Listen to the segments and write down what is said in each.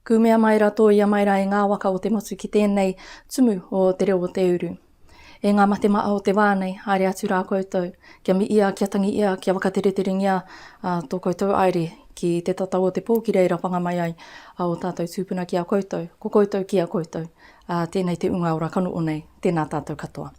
Kumea mai ra to ia mai ra e nga waka o te motu ki tenei tumu o te reo o te uru. E nga mate maa o te waa nei, haere atu ra koutou, kia mi ia, kia tangi ia, kia wakatereterengia to koutou aere ki te tatau o te po ki reira panga mai ai a o tatou tupuna ki a koutou, ko koutou ki a koutou. A tenei te unga ora kanoonei, tena tatou katoa.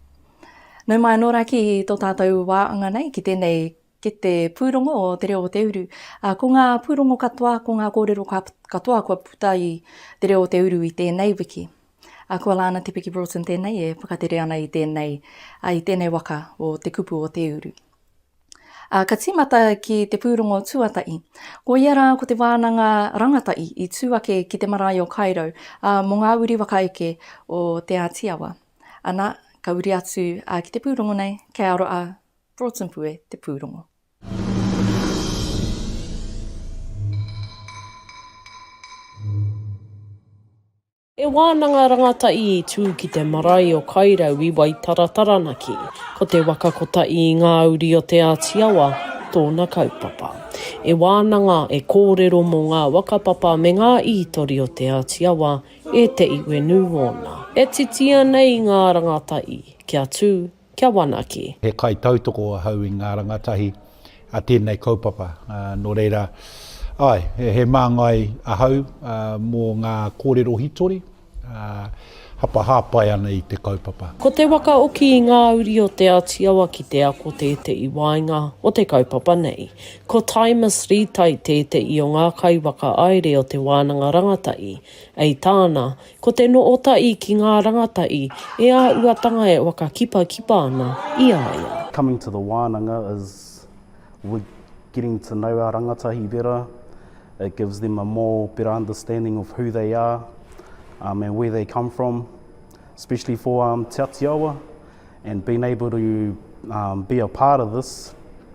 Nau mai anō rā ki tō tātou wāanga nei, ki tēnei, ki te pūrongo o Te Reo o Te Uru. Ā, ko ngā pūrongo katoa, ko ngā kōrero katoa kua puta i Te Reo o Te Uru i tēnei wiki. Ā, ko Alana Te Piki Broughton tēnei e whakatere ana i tēnei, ā, i tēnei waka o Te Kupu o Te Uru. Ā, ka tīmata ki te pūrongo tuatahi. Ko ia rā, ko te wānanga rangatahi i tū ake ki te marae o Kairau, ā, mō ngā uri whakaeke o Te Āti Awa. Ana, ka uri atu a ki te pūrongo nei, kei aro a Broughton Pue te pūrongo. He wānanga rangatahi i tū ki te marae o Kairau i Waitara Taranaki. Ko te waka kotahi i ngā uri o Te Āti Awa tōna kaupapa. He wānanga e kōrero mō ngā whakapapa me ngā ītori o Te Āti Awa E te iwe nu wona. E titia nei nga rangatahi kia tu, kia wanake. He kaitautoko ahau i nga rangatahi a tenei kaupapa, no reira, ae, he mangai ahau mo nga korero hitori hapa hapai ana i te kaupapa. Ko te waka oki i nga uri o te Atiawa ki te ako tetei waenga o te kaupapa nei. Ko Taimas Rītai tēteʻi o ngā kaiwaka aere o te wānanga rangataʻi. Ei tāna, ko te nootaʻi ki ngā rangataʻi e āuatanga e wakakipakipa ana i a ia. Coming to the wānanga is we're getting to know our rangatahi better, it gives them a more better understanding of who they are um and where they come from, especially for um Te Atiawa and being able to um be a part of this.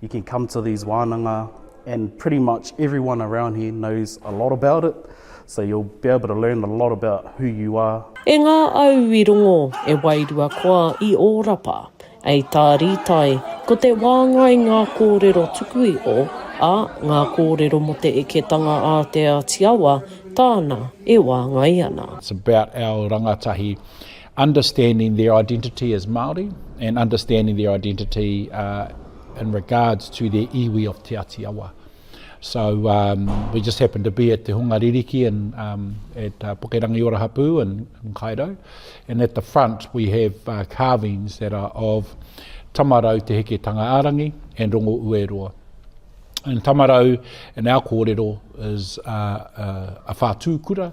You can come to these wānanga and pretty much everyone around here knows a lot about it, so you'll be able to learn a lot about who you are. E ngā au i rongo, e wairua koa i Ōrapa. Ei tā Rītai, ko te wāngai ngā kōrero tuku iho, ā, ngā kōrero mō te eketanga a Te Āti Awa, tāna e wāngai ana. It's about our rangatahi. understanding their identity as Māori and understanding their identity uh, in regards to their iwi of Te Ati Awa. So um, we just happened to be at Te Hunga Ririki and um, at uh, Pukerangi Orahapu in, in Cairo. And at the front we have uh, carvings that are of Tamarau Te Heke Tangaarangi and Rongo Ueroa. And Tamarau, in our kōrero, is uh, uh, a whātū kura,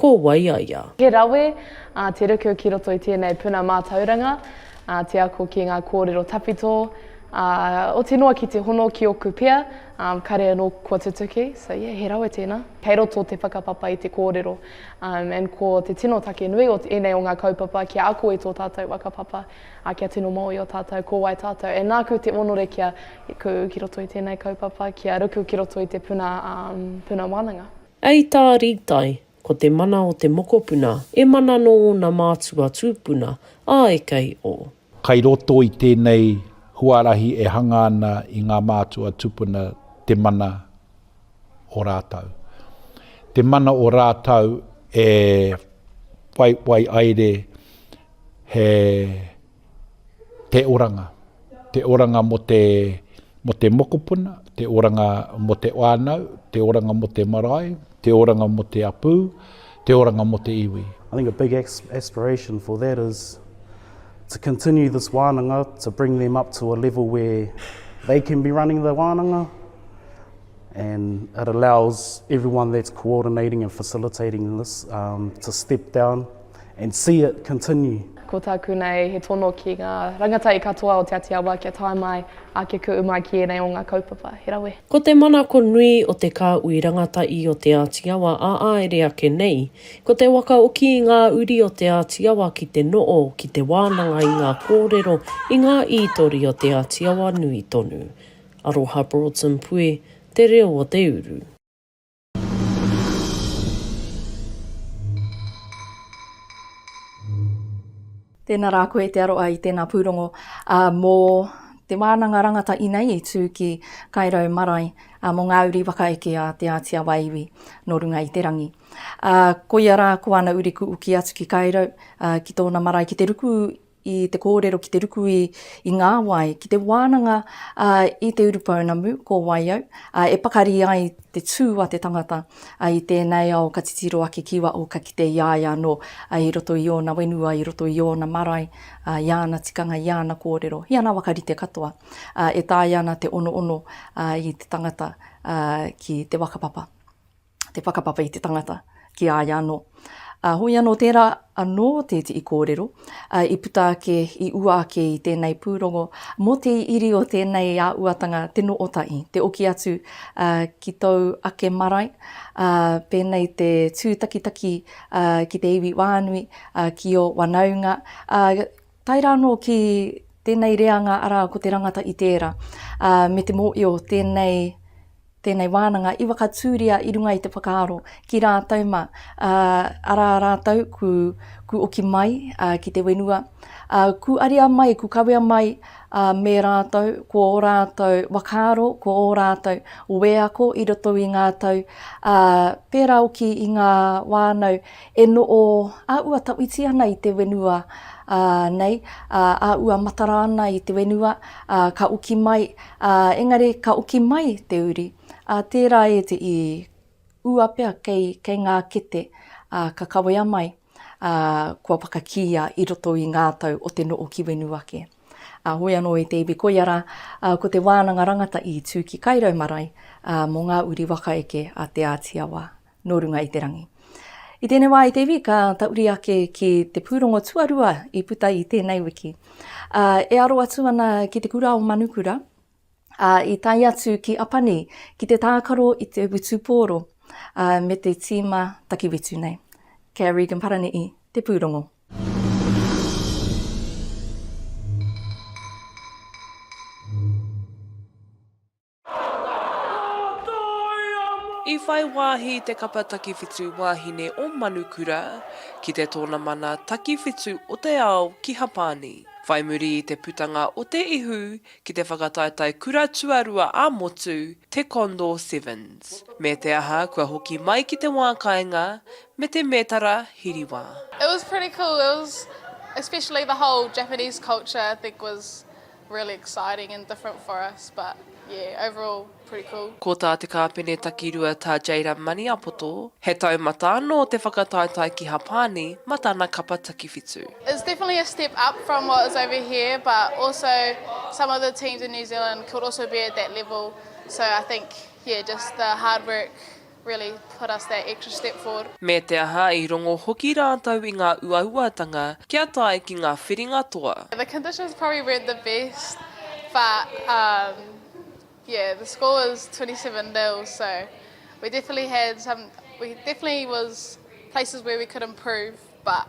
Ko wai a ia? He rawe, ā, te ruku ki roto i tēnei puna mātauranga, ā, te ako ki ngā kōrero tawhito, ā, oti noa ki te hono ki ōku pia, ā, kare anō kua tutuki, so yeah, he rawe tēnā. Kei roto te whakapapa i te kōrero, ā, and ko te tino take nui o ēnei o ngā kaupapa kia ako i tō tātou whakapapa, ā, kia tino mōhio tātou ko wai tātou, and nāku te onore kia, ku ki roto i tēnei kaupapa, kia ruku ki roto i te puna, ā, puna wānanga. Ei tā Rītai, ko te mana o te mokopuna e mana nō ōna mātua tūpuna, āe kei o. Kai roto i tēnei huarahi e hanga ana i ngā mātua tūpuna te mana o rātau. Te mana o rātau e whai wai aire he. te oranga, te oranga mō te, mō te mokopuna, te oranga mō te whānau, te oranga mō te marae, te oranga mō te apū, te oranga mō te iwi. I think a big aspiration for that is to continue this wānanga, to bring them up to a level where they can be running the wānanga. and it allows everyone that's coordinating and facilitating this um, to step down and see it continue. Ko tāku nei he tono ki ngā rangatahi katoa o Te Atiawa kia tae mai ake kuʻu mai ki ēnei o ngā kaupapa. He rawe. Ko te manako nui o te kāui rangatahi o Te Ātiawa a āere ake nei, ko te wakaoki i ngā uri o Te Ātiawa ki te noo, ki te wānanga i ngā kōrero, i ngā ītori o Te Ātiawa nui tonu. Aroha Broughton Pue, Te Reo o te Uru. Tēnā rā koe te aroa i tēnā pūrongo mō Te Wānanga Rangata Inei i tū ki Kairau Marae mō ngā uri whakaeke a Te Ātia Waiwi nō runga i te rangi. Koia rā ko ana uri kuuki atu ki Kairau ki tōna marae ki te ruku i te kōrero ki te ruku i i ngā wai, ki te wānanga ā i te urupounamu, ko wai au, ā, e pakari ai te tū a te tangata ā i tēnei ao ka titiro ake ki waho ka kite i a ia anō ā i roto i ōna whenua, i roto i ōna marae, ā, i ana tikanga, i ana kōrero, i ana wakarite katoa, ā, e taea ana te onoono ā i te tangata ā ki te waka papa. te whakapapa i te tangata ki a ia anō. Ā, hoi anō tērā anō te iti i kōrero, ā, i puta ake, i ua ake i tēnei pūrongo, mō te iri o tēnei āuatanga te nō Otahi, te oki atu, ā, ki tōu ake marae, ā, pēnei te tūtakitaki, ā, ki te iwi wānui, ā, ki ō whanaunga, ā, Tae rā anō ki tēnei reanga arā ko te rangata i tērā, ā, me te mōio tēnei, tēnei wānanga i whakatūria i runga i te whakaaro ki rātou mā, ā, arā rātou ku, ku oki mai, ā, ki te whenua, ā, ku ariā mai, ku kawea mai, ā, me rātou, ko ō rātou whakaaro, ko ō rātou wēako i roto i ngā tau, ā, pērā hoki i ngā whānau. E noʻo a ua tauiti ana i te wenua nei, a ua matara ana i te wenua, ka oki mai, engari ka oki mai te uri, a tērā e te i ua pea kei ngā kete, ka kawea mai, kua whakakīia i roto i ngā tau o te noʻo ki wenu ake. A hoi anō e te iwi koia rā, ko te wānanga rangata i tū ki Kairau marae mō ngā uri waka eke a Te Ātiawa. nō runga i te rangi. I tēnei wā, i te iwi, ka tauri ake ki te pūrongo tuarua i puta i tēnei wiki. Ā, e aro atu ana ki te kura o Manukura, ā, i tae atu ki Apani ki te tākaro i te witupōro, ā, me te tīma takiwitu nei. Kei a Regan Parani'i te pūrongo. I whai wāhi te kapa takiwhitu wāhine o Manukura ki te tōnamana takiwhitu o te ao ki Hapani, whai muri i te putanga o te ihu ki te whakataetae kura tuarua ā-motu, te Condor Sevens. Me te aha, kua hoki mai ki te wā kāinga me te mētara hiriwā. It was pretty cool, it was especially the whole Japanese culture I think was Really exciting and different for us but yeah overall pretty cool. Ko tā te kāpene takirua tā Jayden Maniapoto, he taumata anō te whakataetae ki Hapāni ma tana kapa takiwhitu. It's definitely a step up from what is over here but also some of the teams in New Zealand could also be at that level so I think yeah just the hard work really put us that extra step forward. Me te aha, i rongo hoki rātou i ngā uauatanga kia tae ki ngā whiringa toa. The conditions probably weren't the best but um yeah the score was twenty seven nil so we definitely had some we definitely was places where we could improve but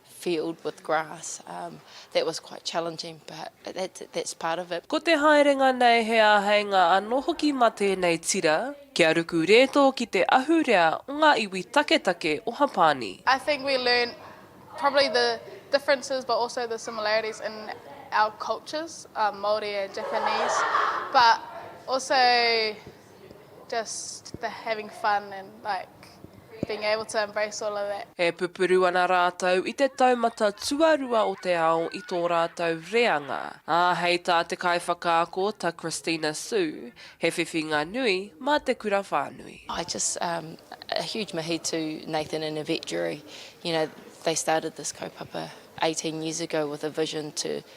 field with grass um that was quite challenging but that's that's part of it. Ko te haerenga nei he āheinga anō hoki mā tēnei tira kia ruku rētō ki te ahurea o ngā iwi taketake o Hapāni. I think we learn probably the differences but also the similarities in our cultures, Māori and Japanese, but also, Just the having fun and like being able to embrace all of that. E pupuru ana rātou i te taumata tuarua o te ao i tō rātou reanga, ā, hei tā te kaiwhakaako, ta Christina Su, he whiwhinga nui mā te kura whānui. I just um a huge mihi to Nathan and Yvette Durie, you know they started this kaupapa eighteen years ago with a vision to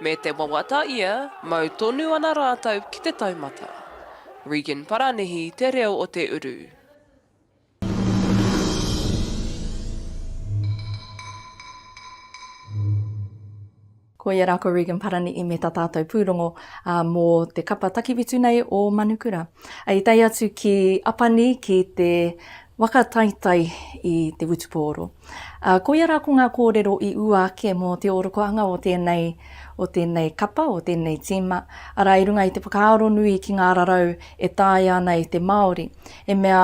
Me te wawata ia, mau tonu ana rātou ki te taumata. Regan Paranihi te reo o te uru. Koia ra ko Regan Paranihi me ta tatou purongo mo te kapa takiwhitu nei o Manukura. I tae atu ki Apani ki te waka taitai i te Wutupōro. Ā, koia rā ko ngā kōrero i ua ake mō te ōrokohanga o tēnei, o tēnei kapa, o tēnei tīma, arā, i runga i te whakaaro nui ki ngā rarau e taea ana e te Māori, he mea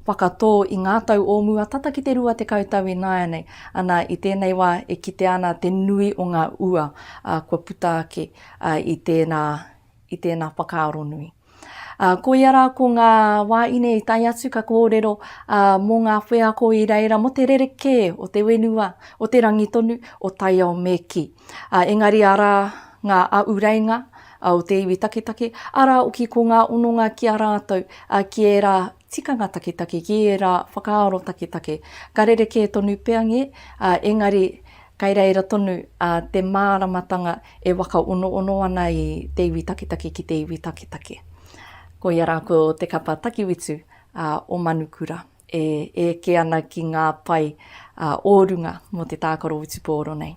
whakatō i ngā tau o mua tata ki te rua tekau tau ināianei, ana, i tēnei wā e kitea ana te nui o ngā ua, ā, kua puta ake, ā, i tērā, i tēnā whakaaro nui. Uh, koia rā ko ngā wāine i tai atu ka kōrero uh, mō ngā wheako i reira mo te rerekē o te wenua, o te rangi tonu, o taiao me ki. Uh, engari ara ngā au reinga uh, o te iwi taketake, ara oki ko ngā ononga ki a rātou, uh, ki ērā tikanga taketake, ki ērā whakaaro taketake. Ka rerekē tonu peange, uh, engari kai reira tonu uh, te māramatanga E whakaonoono ana i te iwi taketake ki te iwi taketake. Ko ia ra ko te kapa takiwitu a o Manukura e eke ana ki nga pai a o runga mo te taakaro witupooro nei.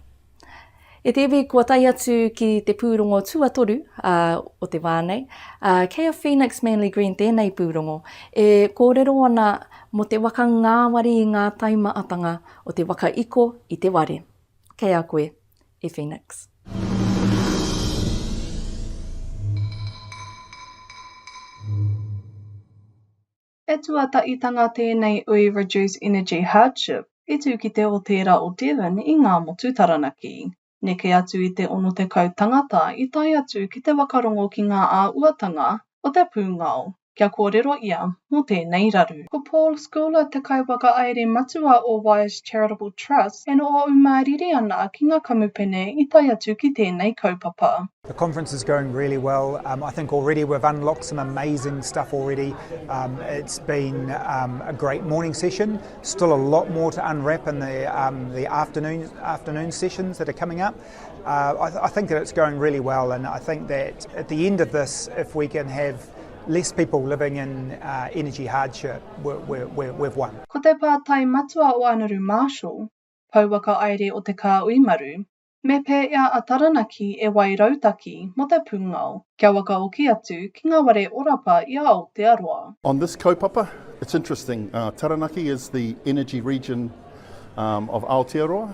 E te iwi kua tae atu ki te pūrongo tuatoru a o te wa nei, a kei a Phoenix Manly Green tēnei pūrongo e koorero ana mo te waka ngaawari i nga taimaatanga o te waka iko i te ware. Kei a koe e Phoenix. He tuataitanga tēnei ui Reduce Energy Hardship i tū ki te o tērā o Devon i Ngā Motu Taranaki. Neke atu i te 60 tangata i tae atu ki te wakarongo ki ngā āhuatanga o te pūngao kia kōrero ia mō tēnei raru. Ko Paul Schouler te kaiwhakahaere matua o Wise Charitable Trust, e noho ū māriri ana ki ngā kamupene i tae atu ki tēnei kaupapa. The conference is going really well, I think already we've unlocked some amazing stuff already, it's been a great morning session, still a lot more to unwrap in the afternoon sessions that are coming up. Uh, I, th- I, think that it's going really well, and I think that at the end of this, if we can have less people living in uh, energy hardship, we're, we're, we're, we've won. Ko te pātai matua o Anaru Marshall, pouaka aere o te kāui maru, me pēea a Taranaki e wai rautaki mō te pūngao kia wakaoki atu ki ngā ware orapa i a Aotearoa. On this kaupapa, it's interesting. Uh, Taranaki is the energy region um, of Aotearoa.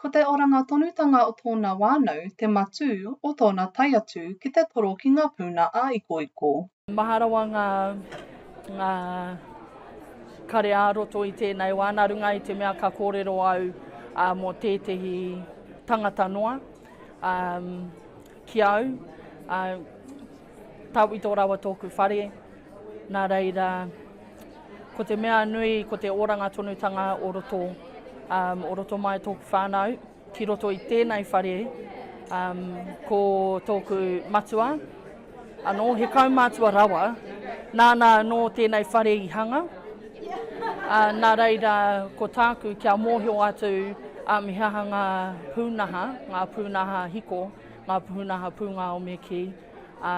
Ko te oranga tonutanga o tōna wānau te matū o tōna tae atu ki te toro ki ngā puna ā-ikoiko. Maha rawa ngā, ngā kare ā-roto i tēnei wā, nā runga i te mea ka kōrero au mō tētehi tangata noa ki au, Tawhito rawa tōku whare, nā reira, ko te mea nui, ko te oranga tonutanga o roto, um, o roto mai tōku whānau, ki roto i tēnei whare, um, ko tōku matua, anō, he kaumātua rawa, nāna anō tēnei whare i hanga, uh, nā reira, ko tāku kia mōhio atu, um, he aha ngā pūnaha, ngā pūnaha hiko, Ngā puhuna hapū, ngā omeki, ā,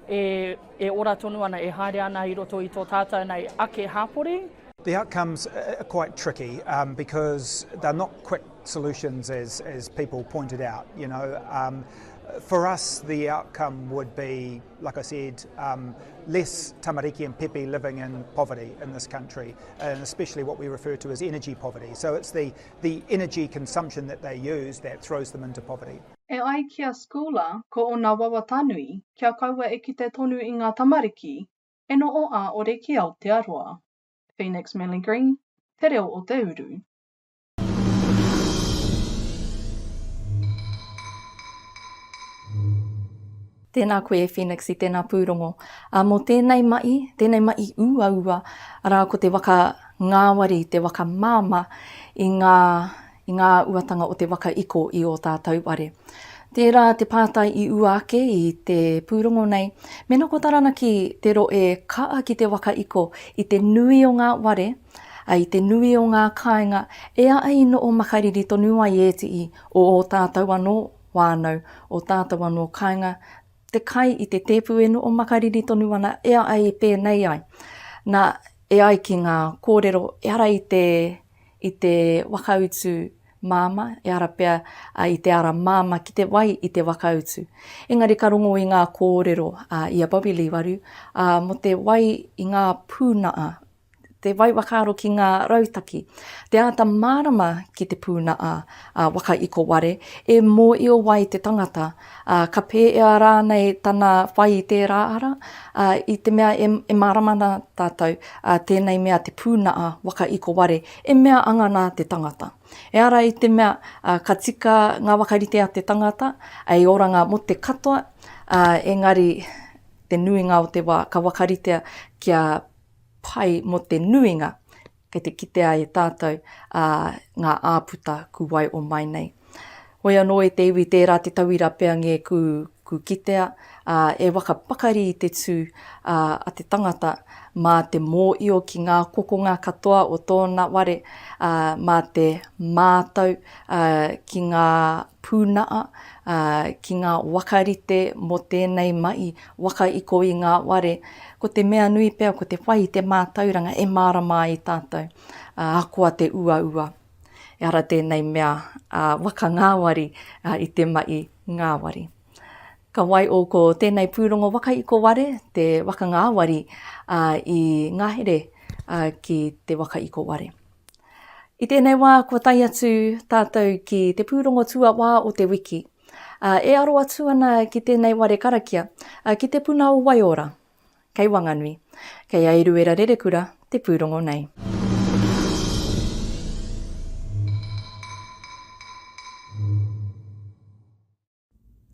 e, e ora tonu ana, e haere ana i roto i tō tātou nei ake hapori. The outcomes are quite tricky um, because they're not quick solutions as, as people pointed out. You know, um, for us, the outcome would be, like I said, um, less tamariki and pepe living in poverty in this country, and especially what we refer to as energy poverty. So it's the The energy consumption that they use that throws them into poverty. E ai ki a Schooler, ko ōna wawata nui, kia kaua e kite tonu i ngā tamariki, e noho ā-ore ki Aotearoa. Phoenix Melly-Green, Te Reo o te Uru. Tēnā koe e Phoenix i tēnā pūrongo. Ā, mō tēnei maʻi, tēnei maʻi uaua, arā, ko te waka ngāwari, te waka māmā i ngā, i ngā uatanga o te waka iko i ō tātou ware. Tērā te pātai i ua ake i te pūrongo nei, mēnā ko Taranaki te roe kaa ki te waka iko i te nui o ngā ware, ā, i te nui o ngā kāinga, e aʻe i noo makariri tonu ai ētii o ō tātou anō whānau, o tātou anō kāinga, te kai i te tēpu e noho makariri tonu ana e ai e pēnei ai. Nā, e ai ki ngā kōrero, ehara i te, i te wakautu māmā, ehara pea i te ara māmā ki te wai i te wakautu. Engari ka rongo i ngā kōrero i a Bobbie Leewaru mō te wai i ngā pūnaha te whai whakaaro ki ngā rautaki, te āta mārama ki te pūnaha waka iko ware, e mōio wai te tangata, ā, ka pēea rānei tana whai i tērā ara, ā, i te mea e, e mārama ana tātou, ā, tēnei mea te pūnaha waka iko ware, e mea anga nā te tangata. Ehara i te mea, ā, ka tika ngā whakarite a te tangata, hei oranga mō te katoa, ā, engari, te nuinga o te wā, ka whakaritea kia pai mō te nuinga kei te kitea e tātou ngā āputa ku wai o mai nei. Hoi anō i te iwi tērā te tauira pea ngē ku ku kitea, e whakapakari i te tū a te tangata mā te mōio ki ngā kokonga katoa o tōna ware, mā te mātau ki ngā pūnaha, ki ngā wakarite mō tēnei mahi, Waka i kō i ngā ware, ko te mea nui pea ko te whai i te mātauranga e mārama ai tātou, ā, ahakoa te uaua. Ehara tēnei mea a Waka Ngāwari i te maʻi ngāwari. Ka wai ō ko tēnei pūrongo waka i kō ware, te Waka Ngāwari i ngahere ki te waka i kō ware. I tēnei wā kua tae atu tātou ki te pūrongo tuawā o te wiki. ā, e aro atu ana ki tēnei ware karakia, ā, ki te puna o Waiora, kei Wanganui, kei a Eruera Rerekura te pūrongo nei.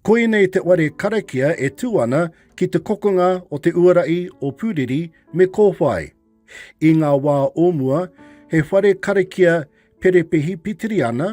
Koinei te ware karakia e tū ana ki te kokonga o te uarahi o Pūriri me Kōwhai. I ngā wā o mua, he whare karakia perepehi pitiri ana,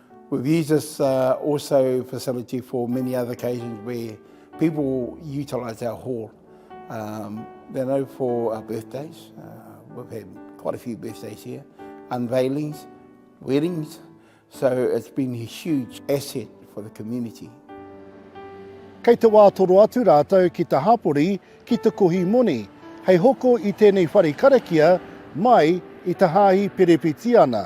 We've used this uh, also facility for many other occasions where people utilise our hall. Um, they know for our birthdays, uh, we've had quite a few birthdays here, unveilings, weddings, so it's been a huge asset for the community. Kei te wā toro atu rātou ki te hapori, ki te kohi moni, hei hoko i tēnei whare karakia mai i te Hāhi Perepetiana.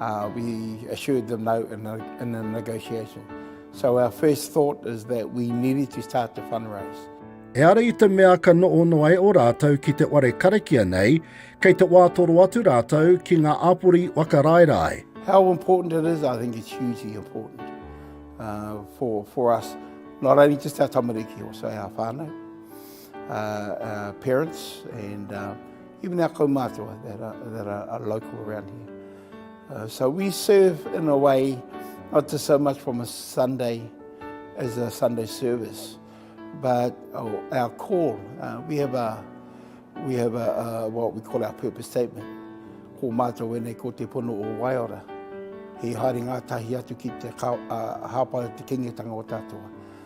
Uh, we assured them no in a, in a negotiation. So our first thought is that we needed to start to fundraise. E ara i te mea ka noono ai o rātou ki te ware karakia nei, kei te wātoro atu rātou ki ngā āpori wakaraerae. How important it is, I think it's hugely important uh, for, for us, not only just our tamariki, also our whānau, uh, our parents and uh, Even our kaumātua that are, that are local around here. Uh, so we serve in a way, not just so much from a Sunday as a Sunday service, but oh, our call. Uh, we have a we have a, a, what we call our purpose statement. Ko mātou wene ko te pono o Waiora. He haere ngā tahi atu ki te ka, a, hāpara te kengetanga o tātou.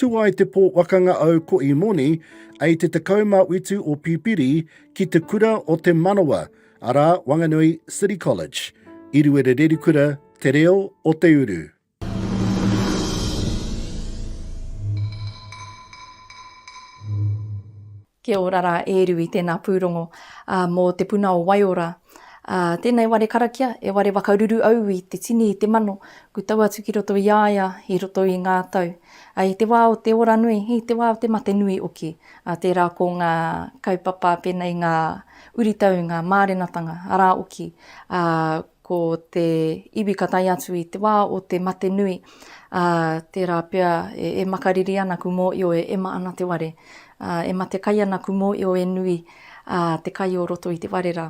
Tu ai te pō wakanga au ko Imoni, ei te 18 o Pipiri, ki te kura o Te Manawa, arā, Wanganui City College, i Ruerererikura, Te Reo o Te Uru. Kia ora rā e Rui, tēnā pūrongo mō Te Puna o Waiora. Tēnei ware karakia, e ware wakaruru au i te tini i te mano, ku tau atu ki roto i a ia i roto i ngā tau. I te wā o te ora nui, i te wā o te mate nui hoki, tērā ko ngā kaupapa pēnei ngā uritau, ngā mārenatanga, arā hoki Ko te iwi ka tae atu i te wā o te mate nui, ā, tērā pea e makariri ana ku mōio e ema ana te ware, ā, e mate kai ana ku mōio e nui, ā, te kai o roto i te ware rā,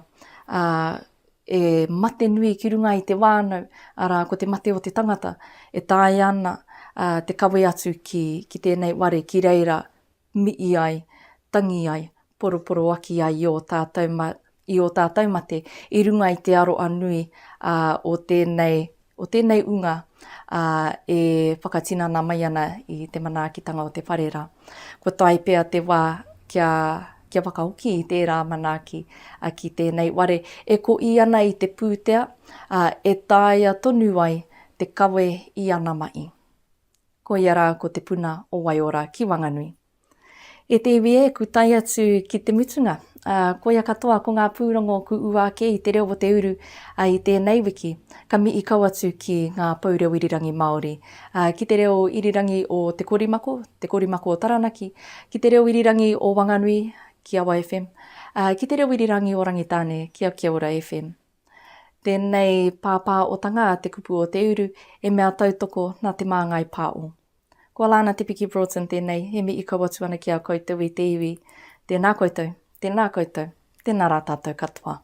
ā, e mate nui ki runga i te wānau, arā, ko te mate o te tangata, e taea ana, ā, te kawe atu ki, ki tēnei ware ki reira mi'i ai, tangi ai, poroporoaki ai i ō tātou, i ō tātou mate i runga i te aroa nui o tēnei, o tēnei unga e whakatinana mai ana i te manaakitanga o te whare rā. Kua tae pea te wā kia, kia whakahoki i tērā manaaki ki tēnei ware e koī ana i te pūtea, e taea tonu ai te kawe i ana mahi. Ko ia rā ko Te Puna o Waiora ki Wanganui. E te iwi e, ku tae atu ki te mutunga. Ā, koia katoa ko ngā pūrongo ku ua ake i Te Reo o Te Uru i tēnei wiki. Ka mihi kau atu ki ngā pou reo irirangi Māori, ā, ki te reo irirangi o Te Korimako, Te Korimako o Taranaki, ki te reo irirangi o Wanganui, ki Awa FM, ā, ki te reo irirangi o Rangitāne, ki a Kia Ora FM. Tēnei pāpā otanga a Te Kupu o Te Uru e mea tautoko nā Te Māngai Pāo. Ko Lana Te Piki Broughton tēnei e mihi kau atu ana ki a koutou i te iwi. Tēnā koutou, tēnā koutou, tēnā rā tātou katoa.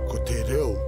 Ko te reo